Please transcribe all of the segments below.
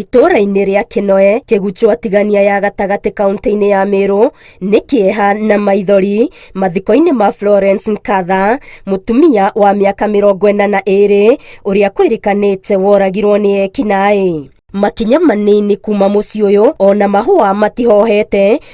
Itũũra-inĩ rĩa Kĩnoe, Kĩguchũ Atigania ya gatagatĩ kaũntĩ-inĩ ya Mĩrũ nĩ kĩeha na maithori mathiko-inĩ ma Florence Nkatha, mũtumia wa mĩaka mĩrongo ĩna na ĩrĩ ũrĩa kwĩrĩkanĩte woragirwo nĩ ekinaĩ. Makinya manini kuma mũciĩ ũyũ ona mahũa matihohete.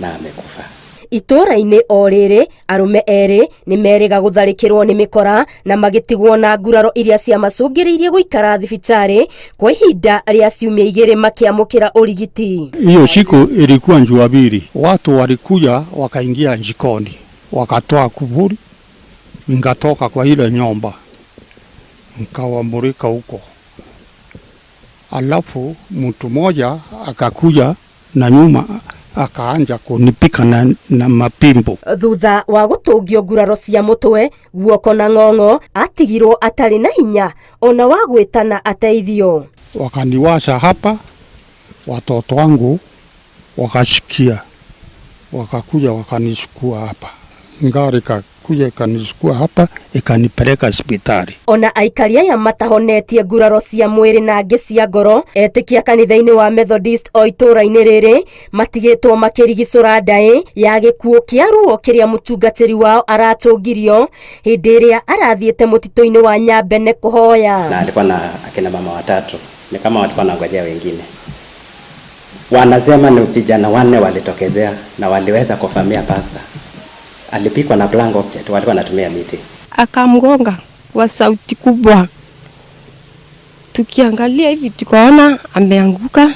na amekufa. Itũũra-inĩ o rĩrĩ, arũme erĩ nĩ merĩga gũtharĩkĩrwo nĩ mĩkora na magĩtigwo na nguraro iria ciamacũngĩrĩirie gũikara thibitarĩ kwa ihinda rĩa ciumia igĩrĩ makĩamũkĩra ũrigiti. Hiyo siku ilikuwa Jumapili, watu walikuja wakaingia jikoni, wakatoa kufuli, nikatoka kwa ile nyumba nikawamulika huko, alafu mtu mmoja akakuja Na nyuma akaanja kunipika na, na mapimbo. Thutha wa gũtũngio nguraro cia mũtwe, guoko na ng'ong'o, atigirwo atarĩ na hinya ona wa gwĩtana ateithio. Wakaniwasha hapa, watoto wangu wakasikia, wakakuja wakanichukua hapa, ngari ka- kuja ikanichukua hapa ikanipeleka hospitali. Ona aikari aya matahonetie nguraro cia mwĩrĩ na angĩ cia ngoro etĩkia kanitha-inĩ wa Methodist o itũũra-inĩ rĩrĩ matigĩtwo makĩrigicũra ndaĩ ya gĩkuũ kĩa ruo kĩrĩa mũtungatĩri wao aratũngirio hĩndĩ ĩrĩa arathiĩte mũtitũ-inĩ wa Nyambene kũhoya. na alikuwa na akina mama watatu, ni kama walikuwa nangojea wengine. Wanasema ni vijana wanne walitokezea na waliweza kuvamia pasta, Alipigwa na blank object, walikuwa wanatumia miti. akamgonga kwa sauti kubwa. Tukiangalia hivi tukaona ameanguka,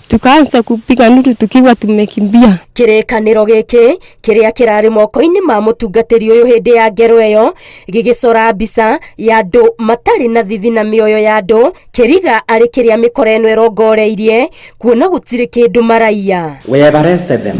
tukaanza kupiga nduru tukiwa tumekimbia. kĩrĩkanĩro gĩkĩ kĩrĩa kĩrarĩ moko-inĩ ma mũtungatĩri ũyũ hĩndĩ ya ngero ĩyo gĩgĩcora mbica ya andũ matarĩ na thithi na mĩoyo ya andũ kĩriga arĩ kĩrĩa mĩkora ĩno ĩrongoreirie kuona gũtirĩ kĩndũ maraiya We have arrested them.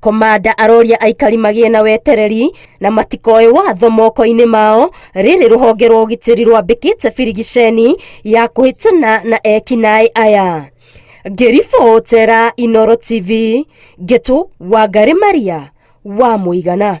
Komanda aroria aikari magĩe na wetereri na matikoe watho moko-inĩ mao rĩrĩ rũhonge rwa ũgitĩri rwambĩkĩte birigiceni ya kũhĩtana na ekinaĩ aya ngĩribotera Inoro TV ngĩtũ Wangari Maria wa mũigana